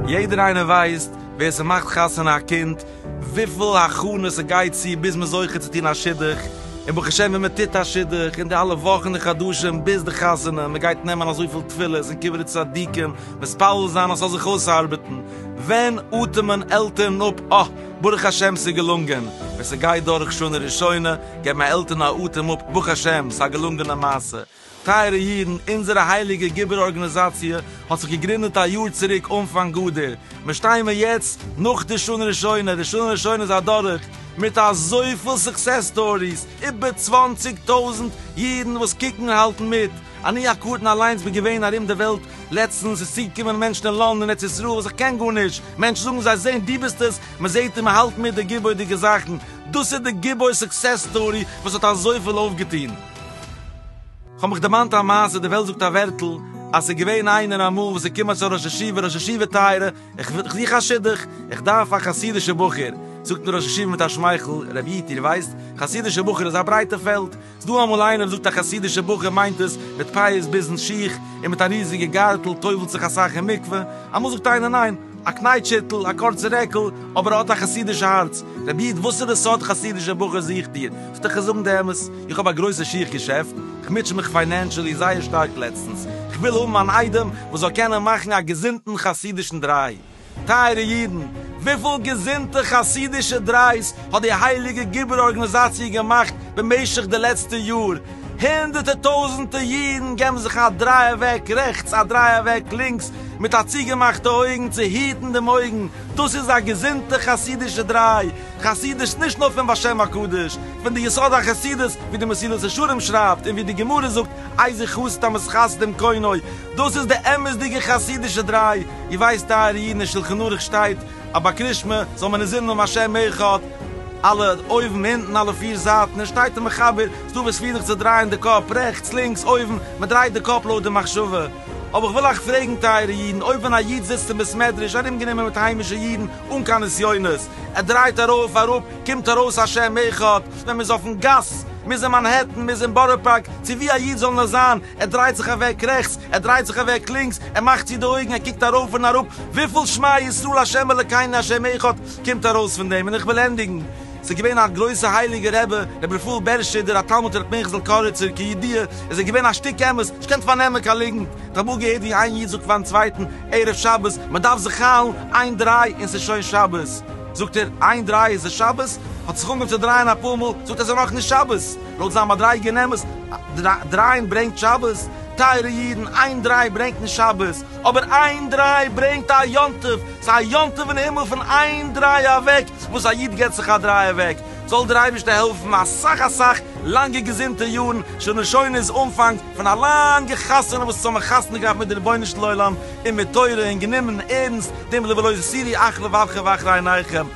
יעדער איינער ווייסט ווער ס'מאכט חתונה א קינד, וויפיל הכנות ס'גייט צו ביז מ'איז זוכה צו טון א שידוך, און ברוך השם ווען מ'טוט א שידוך, און די אלע וואכן און חדשים ביז די חתונה, מ'גייט נעמען אזויפיל תפילות און קברי צדיקים, מתפלל זיין אז ס'זאל זיך אויסארבעטן, ווען אטעמען עלטערן אפ? אה, ברוך השם ס'איז געלונגען! ווען ס'גייט דורך שנה ראשונה, געבן א עלטערן א אטעם אפ, ברוך השם, ס'איז א געלונגענע מעשה. טייערע אידן, אונזערע הייליגע גיבור ארגאניזאציע האט זיך געגרינדעט א יאר צוריק אנפאנג אדר, מיר שטיימער יעצט נאך די שנה ראשונה, די שנה ראשונה איז אדורך, מיט אזויפיל סוקסעס סטאריס, איבער צוואנציג טויזנט אידן וואס קוקן און האלטן מיט, אני הקטן אליינס בין געווען ארום די וועלט לעצטנס, איז צוגעקומען מענטשן אין לאנד און ארץ ישראל וואס איך קען גארנישט, מענטשן זאגן זיי זעהן דו ביסט עס, מען זעהט און מען האלט מיט די געבוי'דיגע זאכן, דאס איז די געבוי סוקסעס סטארי וואס האט אזויפיל אויפגעטון. כ'האב מיך דערמאנט א מעשה, די וועלט זאגט א ווערטל אז ס'איז געווען איינער אמאל וואס איז געקומען צו א ראש ישיבה, ראש ישיבה טייערע, איך איך זוך א שידוך, איך דארף א חסידישע בחור, זאגט אים די ראש ישיבה מיט א שמייכל, רבי איטי דו ווייסט, חסידישע בחור איז א ברייטע פעלד, ס'דא אמאל איינער זאגט א חסידישע בחור מיינט עס, מיט פאות ביזן שיך, און מיט א ריזיגע גארטל, טובלט זיך אסאך אין מקווה, אמאל זאגט איינער ניין, א קנייטש היטל, א קורצע רעקל, אבער ער האט א חסידישע הארץ. רבי איד וואסערע סארט חסידישע בחור זוכט איר? זאלט איך איר זאגן די אמת, איך האב א גרויסע שיך געשעפט, איך מוטש מיך פיינענשעלי זייער שטארק לעצטנס, איך וויל האבן אן איידעם וואס זאל קענען מאכן א געזונטן חסידישן דריי, טייערע אידן, וויפיל געזונטע חסידישע דרייס האט די הייליגע גיבור ארגאניזאציע געמאכט במשך די לעצטע יאר, הונדערטער טויזענטע אידן געבן זיך א דריי אוועק רעכטס א דריי אוועק לינקס מיט א צוגעמאכטע אויגן צו היטן דעם אויגן, דאס איז א געזונטע חסידישע דריי, חסידות נישט נאר פון בשם הקדוש, פון די יסוד החסידות, ווי די מסילת ישרים שרייבט און ווי די גמרא זאגט איזי חסד המסחסדים קונו, דאס איז די אמת'דיגע חסידישע דריי. איר ווייסט טייערע אידן אין שלחן ערוך שטייט אז ביי קרישמע זאל מען נזיר נאמען השם אחד, אלע אויבן אונטן אלע פיר זייטן, און שטייט אין מחבר, ס'דא וואס פירן זיך צו דרייען די קאפ רעכטס לינקס אויבן, מען דרייט די קאפ לויט די מחשבה. אבער איך וויל אייך פרעגן טייערע אידן, אויב ווען א איד זיצט אין בית מדרש ארומגענומען מיט היימישע אידן אן קיין נסיונות, ער דרייט ארויף אראפ קומט ארויס השם אחד, ווען מ'איז אויפן גאס, מ'איז אין מאנהעטן, מ'איז אין בארא פארק, צו ווי א איד זאל נאר זיין, ער דרייט זיך אוועק רעכטס, ער דרייט זיך אוועק לינקס, ער מאכט צו די אויגן, ער קוקט ארויף און אראפ, וויפיל שמע ישראל השם אלקינו השם אחד קומט ארויס פון דעם? און איך וויל ענדיגן, ס'איז געווען א גרויסע הייליגע רבי, רבי רפאל בערשטשעדער, א תלמיד פון ר' פנחס'ל קאריצער, כידיעה איז ער געווען א שטיק אמת, נישט געקענט פארנעמען קיין ליגנט, איך האב אמאל געהערט ווי איין איד זאגט פארן צווייטן ערב שבת, מען דארף זיך היילן, איין דריי און ס'איז שוין שבת, זאגט ער, איין דריי איז עס שבת? האט זיך אנגעהויבן צו דרייען אפאר מאל, זאגט ער, ס'איז נאך נישט שבת! לויט זיין מדריגה אין אמת, דרייען ברענגט שבת, טייערע אידן, איין דריי ברענגט נישט שבת, אבער איין דריי ברענגט א יום טוב, ס'איז א יום טוב אין הימל פון איין דריי אוועק, וואס א איד געבט זיך א דריי אוועק, זאל דיר אייבערשטער העלפן אסאך אסאך לאנגע געזונטע יארן, שנהשונות אנפאנג פון א לאנגע חתונה וואס אונז האבן חתונה געהאט מיט די רבונו של עולם און מיט תורה און גענומען ערנסט דעם רעוואלוישען סידי אחלא ואבכה ואחריניכם.